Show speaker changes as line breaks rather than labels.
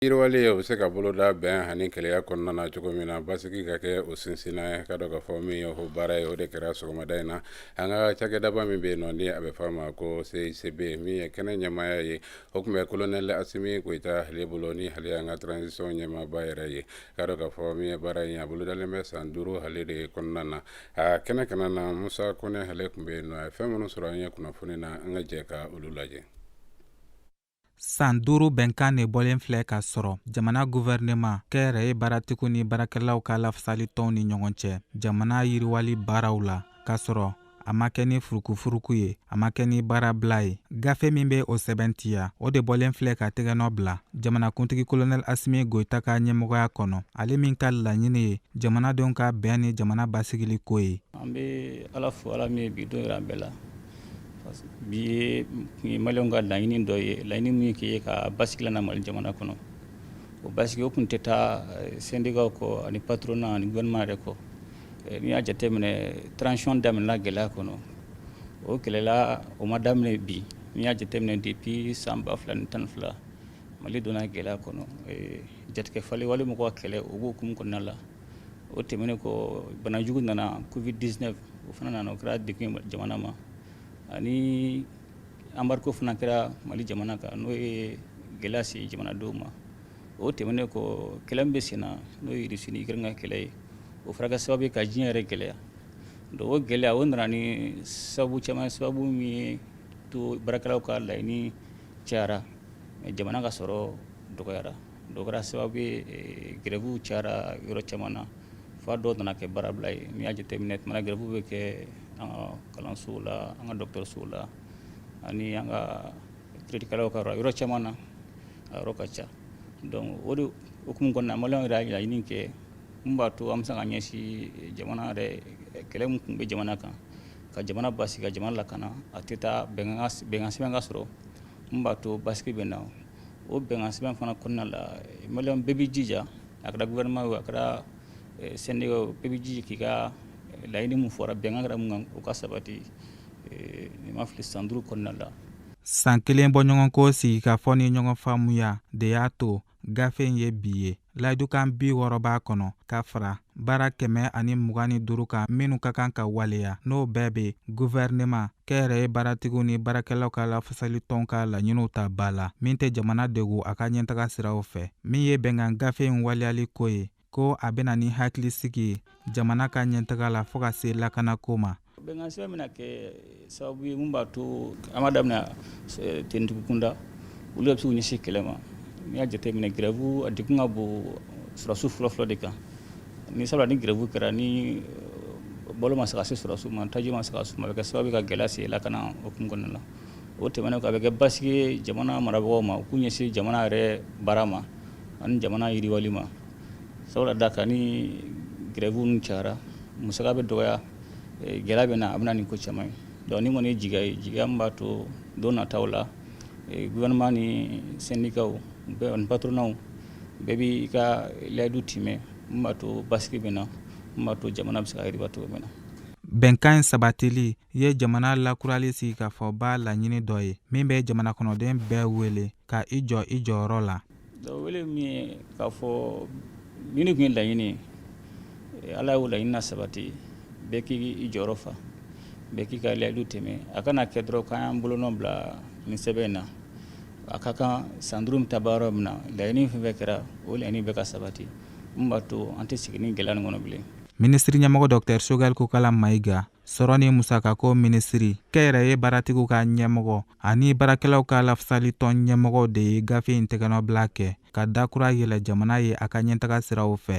Yiriwali o bɛ se ka boloda bɛn ani kelenya kɔnɔna na cogo min na basigi ka kɛ o sinsinnan ye ka dɔ ka fɔ min ye o baara ye o de kɛra sɔgɔmada in na an ka cakɛdaba min bɛ yen nɔ ni a bɛ fɔ a ma ko CICB min ye kɛnɛ ɲɛmaaya ye o tun bɛ kolonɛl asimi goyita ale bolo ni ale y'an ka transition ɲɛmaaba yɛrɛ ye ka dɔ ka fɔ min ye baara in a bolodalen bɛ san duuru ale de kɔnɔna na a kɛnɛ kana na musa kɔnɛ ale tun bɛ yen nɔ a ye fɛn minnu sɔrɔ an ye kunnafoni na an ka jɛ ka olu lajɛ
San duuru bɛnkan de bɔlen filɛ ka sɔrɔ jamana guvɛrɛnema kɛnyɛrɛye baaratigiw ni baarakɛlaw ka lafasali tɔnw ni ɲɔgɔn cɛ jamana yiriwali baaraw la k'a sɔrɔ a ma kɛ ni furukufuruku ye a ma kɛ ni baarabila ye gafe min bɛ o sɛbɛntiya o de bɔlen filɛ ka tɛgɛnɔ bila jamanakuntigi kolonɛl asimi goyita ka ɲɛmɔgɔya kɔnɔ ale min ka laɲini ye jamanadenw ka bɛn ni jamana basigili ko ye an bɛ ala
fo ala min ye bi don jira an bɛɛ la Bi ye maliyɛnw ka laɲini dɔ ye laɲini min k'i ye ka basigi lana mali jamana kɔnɔ o basigi o kun tɛ taa sendikaw kɔ ani patronat ani gouvernement yɛrɛ kɔ n'i y'a jateminɛ transition daminɛna gɛlɛya kɔnɔ o gɛlɛya o ma daminɛ bi n'i y'a jateminɛ depuis san ba fila ni tan fila mali donna gɛlɛya kɔnɔ jatigɛwale wale mɔgɔw ka kɛlɛ o b'o hukumu kɔnɔna la o tɛmɛnen kɔ banajugu nana covid 19 o fana nana o kɛra degun ye jamana ma ani embargo fana kɛra Mali jamana kan n'o ye gɛlɛya se jamanadenw ma o tɛmɛnen kɔ kɛlɛ min bɛ sen na n'o ye Russie ni Ukraine ka kɛlɛ ye o fana kɛra sababu ye ka diɲɛ yɛrɛ gɛlɛya donc o gɛlɛya o nana ni sababu caman sababu min y'a to baarakɛlaw ka laɲini cayara mais jamana ka sɔrɔ dɔgɔyara O kɛra sababu ye grève cayara yɔrɔ caman na fo dɔw nana kɛ baarabila ye n'i y'a jateminɛ tuma grève bɛ kɛ an ka kalansow la an ka dɔgɔtɔrɔsow la ani an ka kiritigɛlaw ka yɔrɔ caman na a yɔrɔ ka ca donc o de hukumu kɔnɔna na maliyɛnw yɛrɛ y'a laɲini kɛ min b'a to an bɛ se ka ɲɛsin jamana yɛrɛ kɛlɛ min tun bɛ jamana kan ka jamana basigi ka jamana lakana a tɛ taa bɛnkansɛbɛn ka sɔrɔ Min b'a to basigi bɛ na o bɛnkansɛbɛn fana kɔnɔna la maliyɛnw bɛɛ b'i jija a kɛra gouvernement ye a kɛra sendikaw ye bɛɛ b'i jija k'i ka laɲini min fɔra bɛnkan kɛra min kan o ka sabati ni n ma fili san duuru kɔnɔna la san kelen bɔ
ɲɔgɔn ko sigi ka fɔ ni ɲɔgɔn faamuya de y'a to gafe in ye bi ye layidukan bi wɔɔrɔ b'a kɔnɔ ka fara baara kɛmɛ ani mugan ni duuru kan minnu ka kan ka waleya n'o bɛɛ bɛ guvɛrinema kɛnyɛrɛye baaratigiw ni baarakɛlaw ka lafasali tɔn ka laɲiniw ta ba la min tɛ jamana degun a ka ɲɛtaga siraw fɛ min ye bɛnkan gafe in waleyali ko ye ko a bɛ na ni hakilisigi ye jamana ka ɲɛtaga la fɔɔ ka se lakanako ma bɛnkansɛbɛn bɛna
kɛ sababu ye min b'a to an b'a daminɛ finitigiw kunda olu bɛ se k'u ɲɛsin kɛlɛ ma n'i y'a jateminɛ grève a degun ka bon sɔrɔdasiw fɔlɔfɔlɔ de kan ni sabula ni grève kɛra ni euh, balo ma se ka se sɔrɔdasiw ma taji ma se ka s'u ma a bɛ kɛ sababu ye ka gɛlɛya se lakana hukumu kɔnɔna la o tɛmɛnen kɔ a bɛ kɛ basigi ye jamana marabagaw ma u k'u ɲɛsin jamana yɛrɛ baara ma ani jamana yiriwali ma sabula da kan ni grève cayara musaka bɛ dɔgɔya gɛlɛya bɛ na a bɛ na ni ko caman ye dɔnku nin kɔni jigiya ye jigiya min b'a to don nataw la gouvernement ni sendikaw patronaw bɛɛ b'i ka layidu timɛ min b'a to basigi bɛ na min b'a to jamana bɛ se ka sabati cogo min na bɛnkan in
sabatili ye jamana lakurali sigikafɔba laɲini dɔ ye min bɛ jamana kɔnɔden bɛɛ wele ka i jɔ i jɔyɔrɔ la wele min
ye k'a fɔ nin tun ye laɲini eh, ala y'o laɲini na sabati bɛɛ k'i jɔyɔrɔ fa bɛɛ k'i ka layidu timɛ a kana kɛ dɔrɔn k'an y'an bolonɔ bila nin sɛbɛn in na a ka kan san duuru ta baara min na laɲini fɛn fɛn kɛra o laɲini bɛɛ ka sabati min b'a to an tɛ segin nin gɛlɛya nin kɔnɔ bilen minisiri ɲɛmɔgɔ
dɔktɛr choguel kokala mayiga sɔrɔ ni musakako minisiri kɛnyɛrɛye baaratigiw ka ɲɛmɔgɔ ani baarakɛlaw ka lafasalitɔn ɲɛmɔgɔw de ye gafe in tɛgɛnɔbila kɛ ka dakura yɛlɛ jamana ye a ka ɲɛtaga siraw fɛ